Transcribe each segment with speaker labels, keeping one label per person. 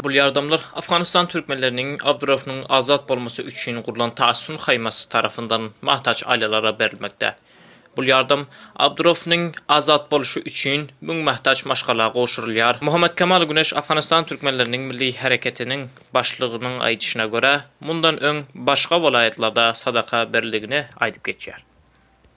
Speaker 1: Bul ýardamlar Afganystan türkmenleriniň Abduraunyň azat bolmasy üçin gurlan Taasun haýmasy tarapyndan mahtaç ailelara berilmekde. Bul ýardam Abduraunyň azat boluşy üçin müň mahtaç maşgala gowşurylýar. Muhammetkemal Güneş Afganystan türkmenleriniň milli hereketiniň başlygynyň aýdyşyna görä, mundan öň başga welaýatlarda sadaka berildigini aýdyp geçýär.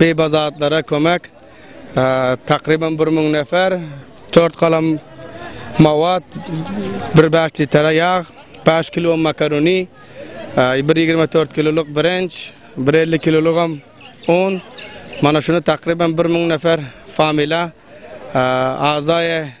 Speaker 1: Beýba zatlara kömek, takryban bir müň nefer, dört galam mowat, bir bäş litr ýag, bäş kilo makaroni, bir ýigrimi dört kilolyk brenç, bir elli kilolygam un, mana şuny takryban bir müň nefer familýa agzaýa.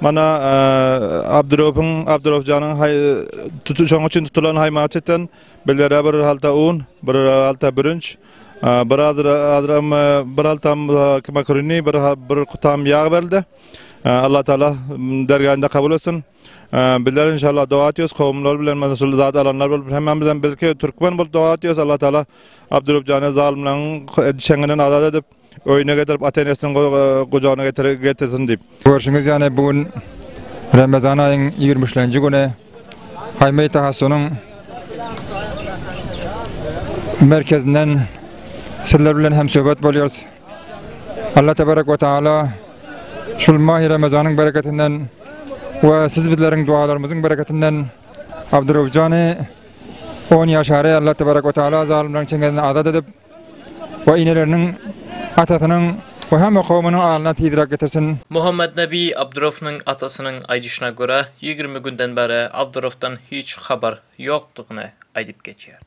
Speaker 1: Mana Abdurofyň, Abdurofjanyň haý tutu şoň üçin tutulan haýmaçydan bilere bir halta un, bir halta bürünç, bir azra azram bir haltam makarini, bir bir kutam ýag berildi. Allah taala dergähinde kabul etsin. Bizler inşallah doga etýäs, kowumlar bilen mana şol zat alanlar bolup hemmemizem birki türkmen bolup doga etýäs. Allah taala Abdurofjany zalymlaryň çeňinden azat edip, Öýüne getirip ata-enesiniň gujagyna getirsin diýip. Görşüňiz ýaly bu gün Ramazan aýyň ýigrimi üçlenji güni Haýmeý Tahasynyň merkezinden sizler bilen hem söhbet bolýarys. Allah tebarek we taala şul mahy Ramazanyň bereketinden we siz bizleriň dualarymyzyň bereketinden Abdurrahjany 10 ýaşary Allah tebarek we taala zalymlaryň çengesinden azat edip We eneleriniň, atasynyň we hemme kowumynyň alyna tizräk getirsin. Muhammetnebi Abdurownyň atasynyň aýdyşyna görä, ýigrimi günden bäri Abdurowdan hiç habar ýokdugyny aýdyp geçýär.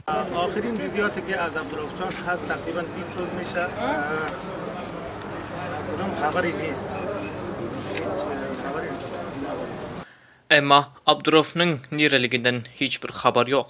Speaker 1: Ahyrin juzýatyky az Abdurowçan has takryban biz çözmüşa bunam habar ýest. Hiç habar ýok. Emma Abdurownyň nireliginden hiç bir habar ýok.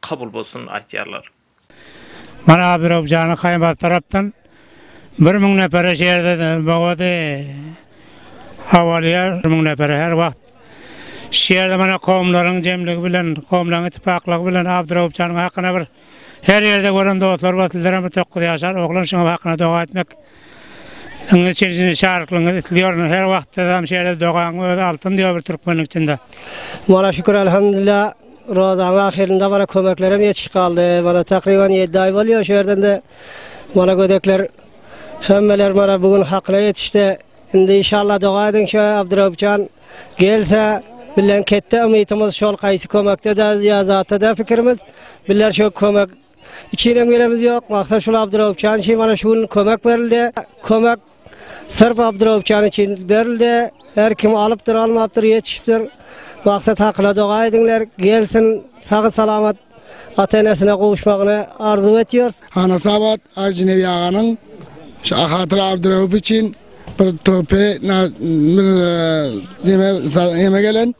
Speaker 1: kabul bolsun aýtýarlar. Mana Birowjanyň Haýbat tarapdan bir müň nepere şerde bogady Awalýar bir müň nepere her wagt şerde mana kowumlaryň jemligi bilen kowumlaryň itipaklygy bilen Abdyrowupjanyň hakyna bir her ýerde gören dostlar bolsa sizlerem bir dokuz ýaşar oglan şuňa hakyna doga etmek Siziň üçin şatlygyňyzy islýaryn. Her wagtdasam şeýle dogaň özi altyn diýýär bir türkmeniň içinde. Mala şükür Alhamdulilla Rozaň ahyrynda mana kömeklerem ýetişip galdy. Mana takryban ýedi aý bolýar şu ýerdende mala gödekler hemmeler mana bu gün hakyna ýetişdi. Indi inşallah doga ediň şo Abdyrabupjan gelse bilen ketde umytymyz şol gaýsy kömekde-de ýa zatda-da pikirimiz. Biller şo kömek Içinem gelemiz ýok, maksat şul Abdyrauffjan üçin mana şu gün kömek berildi. Kömek syrf Abdyrauffjan üçin berildi. Her kim alypdyr, almapdyr, ýetişipdir. Maksat hakyna doga ediňler, gelsin, sagy salamat ata-enesine gowuşmagyny arzuw etýäris. Hanasabat Ajynewi aganyň şu Ahatyra Abdyrauff üçin bir töhpe, bir neme gelen.